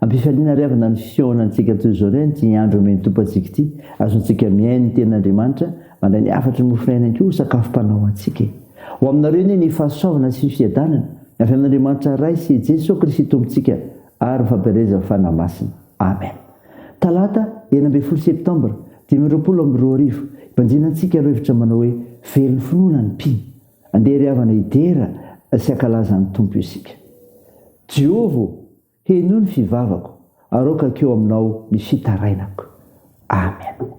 Ampifaliana ary avana ny fihaonantsika toy izao indray an'ity andro omen'ny Tompo antsika ity, azontsika mihaino ny Tenin'Andriamanitra, mandray ny hafatry ny mofo iainany koa ho sakafo mpanao antsika e. Ho aminareo anie ny fahasoavana sy ny fiadanana avy amin'Andriamanitra Ray sy Jeso Kristy Tompontsika ary ny fampielezan'ny Fanahy Masina. Amen. Talata enina ambin'ny folo septambra dimy amby roapolo amby roa arivo, ibanjinantsika ireo hevitra manao hoe, Velon'ny finoana ny mpino. Andeha ry havana hidera sy hankalaza ny Tompo isika. Jehovah ô, henoy ny fivavako, aroakako eo aminao ny fitarainako. Amena.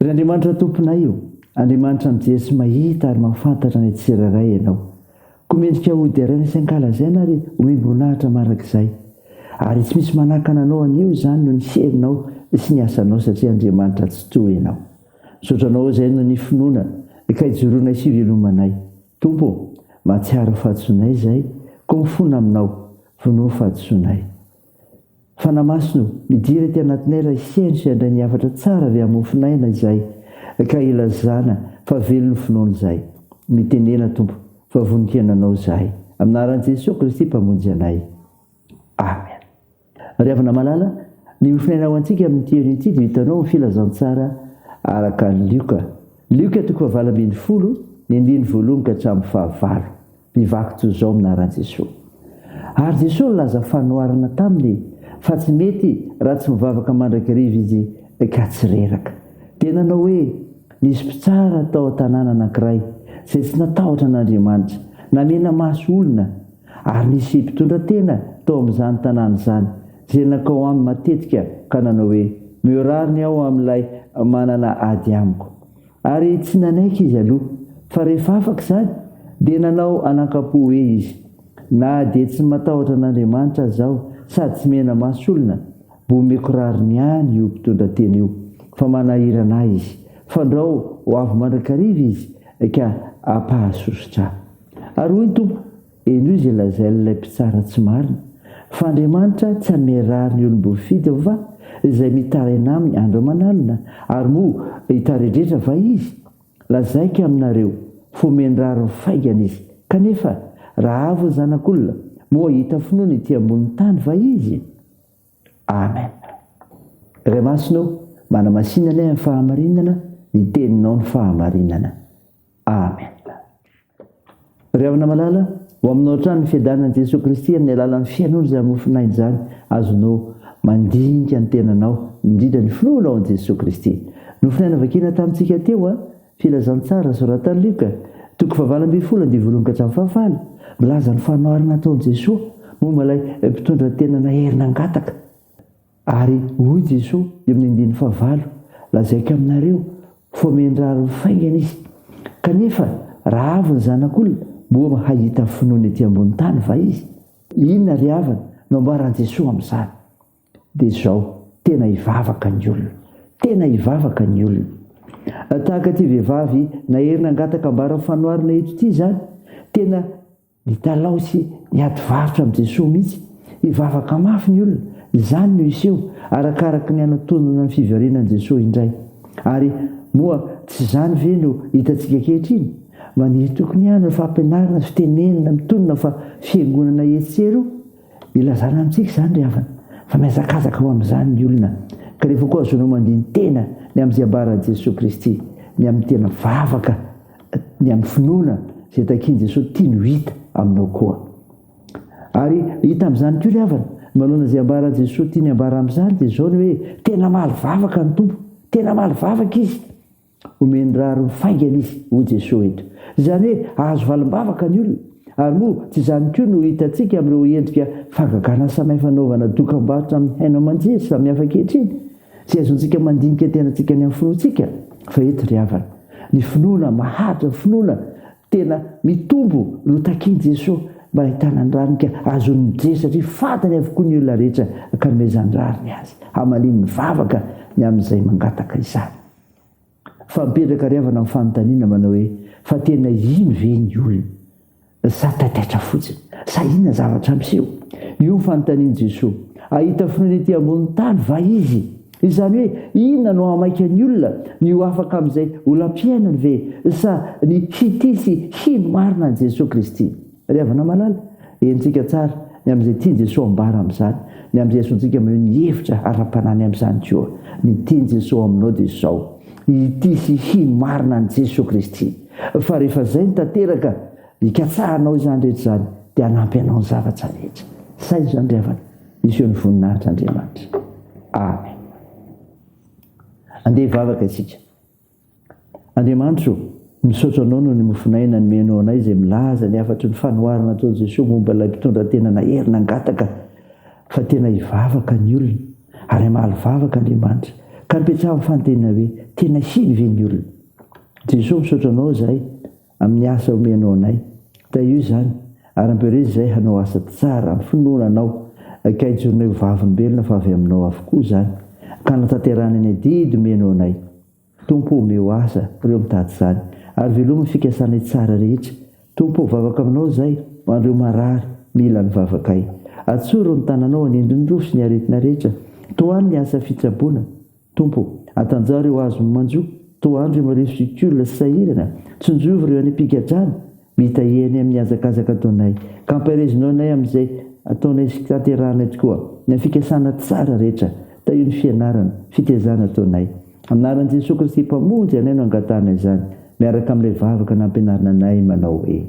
Ry Andriamanitra Tomponay o, Andriamanitra mijery mahita ary mahafantatra ny tsirairay Ianao. Koa mendrika ho deraina sy ankalazaina ary hohim-boninahitra mandrakizay. Ary tsy misy manakana Anao anio izany noho ny herinao sy ny asanao satria Andriamanitra tsitoha Ianao. Misaotra Anao izay noho ny finoana ka ijoroanay sy ivelomanay. Tompo o, mahatsiaro ny fahadisoanay izay koa mifona aminao, vonoy ny fahadisoanay. Fanamasinao, Midira ety anatinay ilay Sehany sy handray ny hafatra tsara avy amin'ny mofon'aina izahay ka hilazana fa velona ny finoana izahay. Mitenena, Tompo, fa vonon-kiainanao izahay. Amin'ny anaran'i Jesoa Kristy Mpamonjy anay. Amen. Ry havana malala, ny mofon'aina ho antsika amin'ity herin' ity dia hitanao amin'ny Filazantsara araka an'i Lioka. Lioka toko fahavalo ambin'ny folo, ny andininy voalohany ka hatramin'ny fahavalo. Bivaky toy izao minaran'i Jesoa. Ary Jesoa nilaza fanoharana taminy fa tsy mety raha tsy mivavaka mandrakariva izy ka tsy reraka. Dia nanao hoe, Nisy mpitsara tao an-tanàna anankiray izay tsy natahotra an'Andriamanitra, namena maso olona. Ary nisy mpitondra tena tao amin'izany tanàna izany izay nankao aminy matetika ka nanao hoe, Mihorary ny ao amin'ilay manana ady amiko. Ary tsy nanaiky izy aloha, fa rehefa afaka izany, dia nanao anankampo hoe izy, Na dia tsy matahotra an'Andriamanitra aza aho, sady tsy mena-maso olona, mba omeko rariny ihany io mpitondra teny io, fa manahirana ahy izy. Fandrao ho avy mandrakariva izy, ka hampahasosotra ahy. Ary hoy ny Tompo, Henoy izay lazain'ilay mpitsara tsy marina, fa Andriamanitra tsy hamerary ny olom-boafidy va izay mitaraina aminy andro aman'alina? Ary moa hitaredretra va izy? Lazaiko aminareo, fomeny rariny faingana izy. Kanefa, raha avo ny Zanak'olona, moa hahita finoana ety ambonin'ny tany va izy? Amen. Ray Masina ô, manamasina anay amin'ny fahamarinana, ny Teninao no fahamarinana. Amen. Ry havana malala, ho aminao hatrany ny fiadanan'i Jesoa Kristy amin'ny alalan'ny fihainoana izany mofonaina izany, azonao mandinika ny tenanao, indrindra ny finoanao an'i Jesoa Kristy. Nofonaina vakina tamintsika teo an, Filazantsara soratan'i Lioka, toko fahavalo ambin'ny folo andivo voalohany ka hatramin'ny fahafalo, milaza ny fanoharana ataon'i Jesoa momba ilay mpitondra tena nahery nangataka. Ary hoy Jesoa eo amin'ny andininy fahavalo, Lazaiko aminareo, foameny rariny faingana izy. Kanefa raha avy ny Zanak'olona, moa hahita finoana ety ambony tany va izy? Inona ry havana no ambaran'i Jesoa amin'izany? Dia izao, tena hivavaka ny olona. Tena hivavaka ny olona. Tahaka ity vehivavy nahery nangataka ambaran'ny fanoharana eto ity izany, tena. Mitalaho sy miady varotra amin'i Jesoa mihitsy. Hivavaka mafy ny olona, izany no hiseho, arakaraky ny hanatonana ny fiverenan'i Jesoa indray. Ary moa tsy izany ve no hitantsika ankehitriny? Maniry tokony ihany ny fampianarana sy fitenenana mitonona fa fiangonana etsy sy eroa. Ilazana amintsika izany ry havana fa mihazakazaka ho amin'izany ny olona, ka rehefa koa azonao mandini-tena ny amin'izay ambaran'i Jesoa Kristy, ny amin'ny tena vavaka Ny amin'ny finoana izay takian'i Jesoa tiany ho hita aminao koa. Ary hita amin'izany koa ry havana, ny manoloana izay ambaran'i Jesoa tiany hambara amin'izany dia izao ny hoe, tena hamaly vavaka ny Tompo, tena hamaly vavaka Izy. Omeny rariny faingana Izy, hoy Jesoa eto. Izany hoe hahazo valim-bavaka ny olona. Ary moa tsy izany koa no hitantsika amin'ireo endrika fahagagan'asa mahay fanaovana dokam-barotra amin'ny haino aman-jery samihafa ankehitriny? Tsy azontsika mandinika tenantsika any amin'ny finoantsika fa eto ry havana, ny finoana maharitra, ny finoana tena mitombo no takian'i Jesoa mba hahitana ny rariny ka azony mijery satria fantany avokoa ny olona rehetra ka nomezany rariny azy hamaliany ny vavaka ny amin'izay mangataka izany. Fa mipetraka ry havana ny fanontaniana manao hoe, fa tena ino ve ny olona? Sa taitaitra fotsiny? Sa inona zavatra miseho? Io ny fanontanian'i Jesoa. Hahita finoana ety ambonin'ny tany va Izy? Izany hoe, inona no hahamaika ny olona? Ny ho afaka amin'izay olam-piainany ve? Sa ny hitia sy hino marina an'i Jesoa Kristy? Ry havana malala, henontsika tsara ny amin'izay tian'i Jesoa ambara amin'izany, ny amin'izay asontsika maneho ny hevitra ara-panahinay amin'izany koa. Ny tian'i Jesoa aminao dia izao, hitia sy hino marina an'i Jesoa Kristy. Fa rehefa izay no tanteraka, ikatsahanao izany rehetra izany, dia hanampy anao ny zavatra rehetra. Saino izany ry havana, hiseho ny voninahitr'Andriamanitra. Amen. Andeha hivavaka isika. Andriamanitra o, misaotra Anao noho ny mofon'aina nomenao anay izay milaza ny hafatry ny fanoharana nataon'i Jesoa momba ilay mpitondra tena nahery nangataka fa tena hivavaka ny olona ary hamaly vavaka Andriamanitra ka nipetsaha ny fanontaniana hoe, tena hino ve ny olona? Jesoa misaotra Anao izahay Amin'ny asa omenao anay. Tahio izany, ary ampirio izay hanao asa tsara amin'ny finoana Anao, ka hijoronay ho vavolombelona fa avy Aminao avokoa izany, ka hanatanterahana ny adidy omenao anay. Tompo ô, omeo asa ireo mitady izany, ary velomy ny fikasanay tsara rehetra. Tompo ô, vavaka Aminao izay, ho an'ireo marary, mila ny vavakay. Atsoro ny tananao hanindry ny rofy sy ny aretina rehetra. Tohano ny asa fitsaboana. Tompo ô, atanjaha reo azon'ny manjo, toa andry am reo sicule sy sahirana, tsinjovy reo any am-pigadrana, mitahiry anay amin'ny hazakazaka ataonay, ka ampaherezino anay amin'izay ataonay sy tanterahanay tokoa, ny fikasana tsara rehetra, tahio ny fianarana, fitezana ataonay. Anaran'i Jesoa Kristy Mpamonjy anay no angatahanay izany, miaraka amin'ilay vavaka nampianarina anay manao hoe.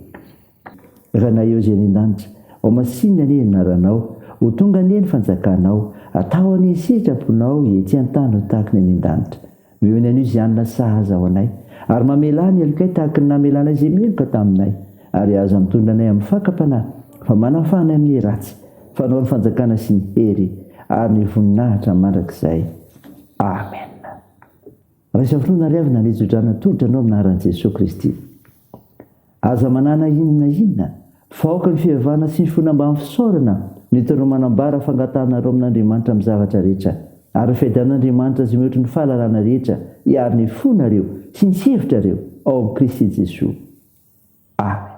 Ranaivo izay any an-danitra. Ho masinina anie ny anaranao. Ho tonga anie ny fanjakanao. Atao anie ny sitraponao ety an-tany ho tahaka ny any an-danitra. Noho ny anio zianina sahaza ho anay. Ary mamelà ny helokay tahaka ny namelanay izay meloka taminay. Ary aza mitondra anay amin'ny fakam-panahy, fa manafaha anay amin'ny ratsy. Fa anao ny fanjakana sy ny hery ary ny voninahitra mandrakizay. Amena. Raisa finoana ary avy nanetsodrana tolotra anao amin'ny anaran'i Jesoa Kristy. Aza manana inona na inona fa aoka ny fivavahana sy ny finoana mba hampisaorana no hitanao manambara fangatahanareo amin'Andriamanitra amin'ny zavatra rehetra ary ny fiadian'Andriamanitra izay mihoatry ny fahalalana rehetra hiaro ny fonareo sy ny hevitrareo ao amin'i Kristy Jesoa. Amen.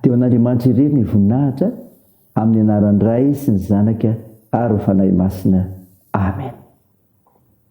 Dia ho an'Andriamanitra irery ny voninahitra amin'ny anaran'ny Ray sy ny Zanaka ary ny Fanahy Masina. Amen.